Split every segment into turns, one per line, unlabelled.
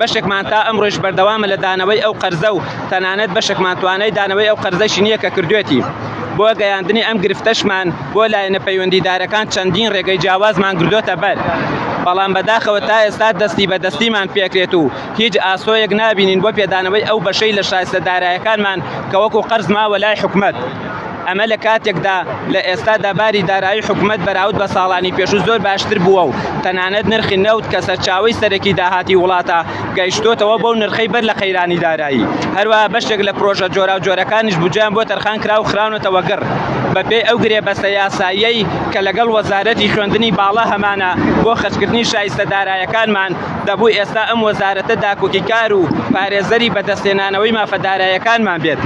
بەشێکمان تا ئەمڕۆیش بەردەوامە لە دانەوەی ئەو قەرزە و تەنانەت بەشێکمان توانای دانەوەی ئەو قەرزەشی نییە کە کردوێتی. بۆ گەیاندنی ئەم گرفتەشمان بۆ لایەنە پەیوەندیدارەکان چەندین رێگەی جیاوازمان گرتۆتە بەر، بەڵام بەداخەوە تا ئێستا دەستی بە دەستیمان پێکرێت و هیچ ئاسۆیەک نابینین بۆ پێدانەوەی ئەو بەشەی لە شایستە دارایەکانمان کە وەکو قەرز ماوە لای حکومەت. ئەمە لە کاتێکدا لە ئێستادا باری دارایی حکومەت بەراود بە ساڵانی پێشوو زۆر باشتر بووە و تەنانەت نرخی نەوت کە سەرچاوەی سەرەکی داهاتی وڵاتە گەیشتۆتەوە بەو نرخەی بەر لە قەیرانی دارایی هەروەها بەشێک لە پرۆژە جۆراوجۆرەکانیش بودجەیان بۆ تەرخان کراو خراونەتەوە گڕ بەپێی ئەو گرێبەستە یاساییەی کە لەگەڵ وەزارەتی خوێندنی باڵا هەمانە بۆ خەرجکردنی شایستە دارایەکانمان دەبوو ئێستا ئەم وەزارەتە داکۆکیکار و پارێزەری بەدەستهێنانەوەی مافە دارایەکانمان بێت.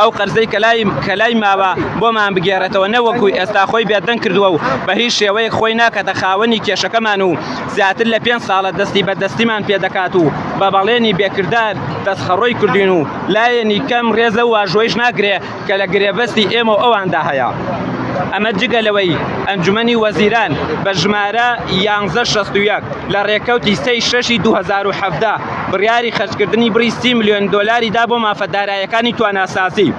ئەو قەرزەی کە لای کە لای ماوە بۆمان بگێڕێتەوە نەوەکو ئێستا خۆی بێدەنگ کردوە و بە هیچ شێوەیەک خۆی ناکاتە خاوەنی کێشەکەمان و زیاتر لە پێنج ساڵە دەستی بە دەستیمان پێ دەکات و بە بەڵێنی بێ کردار دەستخەڕۆی کردوین و لایەنی کەم رێز لەو واژۆیش ناگرێ کە لە گرێبەستی ئێمە و ئەواندا هەیە. ئەمە جگە لەوەی ئەنجومەنی وەزیران بە ژمارە یانزە شەست و یەک لە رێکەوتی سێ ی شەش ی دوو هەزار و حەڤدە، بڕیاری خەرجکردنی بڕی سی ملیۆن دۆلاری دا بۆ مافە دارایەکانی تواناسازی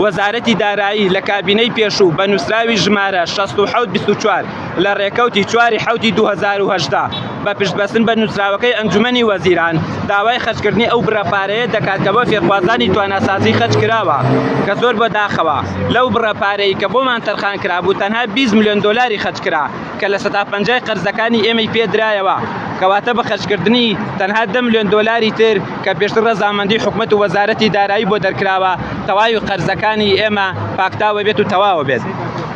وەزارەتی دارایی لە کابینەی پێشوو بە نووسراوی ژمارە شەست و حەوت بیست و چوار لە ڕێکەوتی چواری حەوتی دوو هەزار و هەژدە بە پشتبەستن بە نووسراوەکەی ئەنجومەنی وەزیران داوای خەرجکردنی ئەو بڕە پارەیە دەکات کە بۆ فێرخوازانی تواناسازی خەرج کراوە کە زۆر بەداخەوە لەو بڕە پارەی کە بۆمان تەرخان کرابوو تەنها بیست ملیۆن دۆلاری خەرج کرا کە لە سەدا پەنجای قەرزەکانی ئێمەی پێ درایەوە، کەواتە بە خەرجکردنی تەنها دە ملیۆن دۆلاری تر کە پێشتر رەزامەندی حکومەت و وەزارەتی دارایی بۆ دەرکراوە، تەواوی قەرزەکانی ئێمە پاکتاوە بێت و تەواو بێت.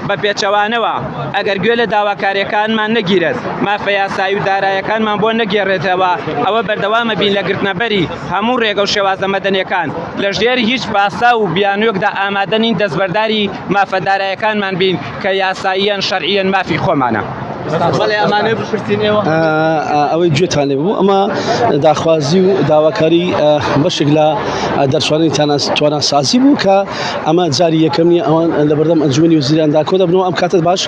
بە پێچەوانەوە، ئەگەر گوێ لە داواکارییەکانمان نەگیرێت، مافە یاسایی و دارایەکانمان بۆ نەگێڕێتەوە، ئەوە بەردەوامەبین لە گرتنەبەری هەموو رێگە و شێوازە مەدەنییەکان، لەژێر هیچ پاساو و بیانووێکدا ئامادە نین دەستبەرداری مافە دارایەکانمان بین. کە یاساییەن شەرعیەن مافی خۆمانە.
ئەوەی گوێتان لێ بوو ئەمە داخوازی و داواکاری بەشێک لە دەرچوانی تواناسازی بوو کە ئەمە جاری یەکەم نیە ئەوان لە بەردەم ئەنجومی وزیراندا کۆ دەبنەوە ئەم کاتت باش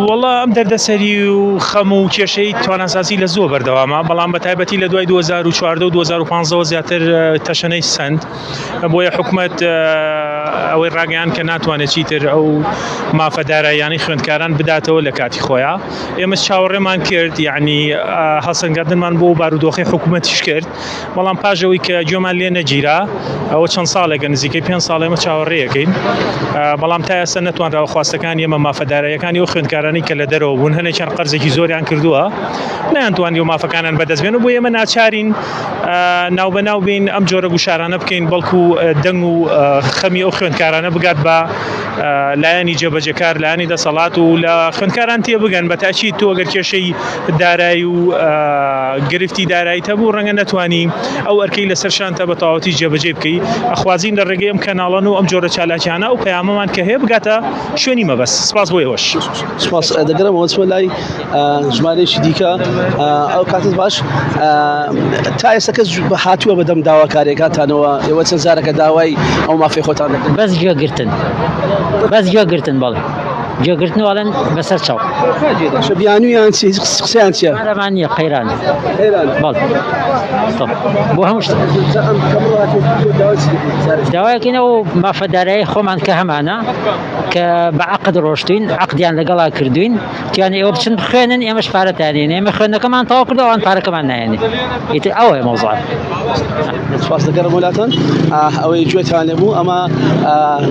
وڵا ئەم دەردەسەری و خەم و کێشەی تواناسازی لە زۆ بەردەوامە بەڵام بە تایبەتی لە دوای 2014 و 2015 زیاتر تەشەنەی سند. بۆیە حکومەت ئەوەی ڕاگەیاند کە ناتوانێت چیتر ئەو مافە داراییانەی خوێندکاران بداتەوە لە کاتی خۆیان ئێمەش چاوەڕێمان کرد یعنی هەڵسەنگاندنمان بۆ بارودۆخی حکوومەتیش کرد بەڵام پاژەوەی کە گوێمان لێ نەگیرا ئەوە چەند ساڵێکە نزیکەی پێ ساڵ ئێمە چاوەڕێەکەین بەڵام تا ئێستا نەتوانراوە خواستەکان ئێمە مافەدارایەکانی و خوێندکارانی کە لە دەرەوە بوون هەنێکیان قەرزێکی زۆریان کردووە نیان توانانی و مافەکانیان بەدەستبێن و بۆ ئێمە ناچارین ناوبەناو بین ئەم جۆرە گوشارانە بکەین بەڵکو دەنگ و خەمی ئەو خوێندکارانە بگات بە لایەنی جێبەجەکار لایەنی دەسەڵات و لە خوێندکاران تێ بگەن بە تاچی تۆ گەر کێشەی دارایی و گرفتی دارایی هەبوو ڕەنگە نتوانی ئەو ئەرکەی لەسەر شانتە بە تەواوەتی جێبەجێ بکەی ئەخوازین لە ڕێگەی ئەم کەناڵەن و ئەم جۆرە چالاکیانە و پەیامەمان کە هەیە بگاتە شوێنی مەبەست سپاس بۆ ئێوەش سپاس دەگەرەوە
چۆ لای ژمارەیەکی دیکە ئەو کاتت باش تا ئێستا کەس هاتووە بەدەم داواکارێکاتانەوە ئێوە چەند جارەکە داوای ئەو مافی خۆتان دەکەن بەس گوێگرتن
بەس گوێگرتن بەڵێ گوێگرتن واڵێن بەسەر چاو بیانویان
چی قسەیان چیە ئەمانە قەیران
بۆ هەموو داواکەینەوە مافەدارایی خۆمان کە هەمانە کە بە عقد ڕۆشتین عقدیان لەگەڵا کردوین تیان ئێوە بچن بخوێنن ئێمەش پارەتانێن ئێمە خوێندەکەمان تاوا کرد ئەوان پارەکەمان نایێنێ ئیتر ئەوەیە مەوزوع
سپاس دەکەم وڵاتان ئەوەی گوێتان لەبوو ئەمە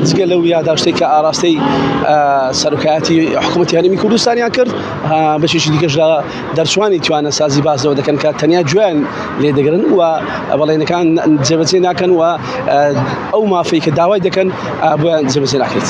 جگە لەو یاداشتێک کە ئاراستەی سەرکایەتی حکوومەتی هەرمی کوردستانیان کرد بەشێکی دیکەش لە دەرچوانی توانە سازی باسەوە دەکەن کە تەنیا جوێن لێ دەگرن و بەڵێنەکان جێبەجێ ناکەن و ئەو مافەی کە داوای دەکەن بۆیان جێبەجێ ناکرێت.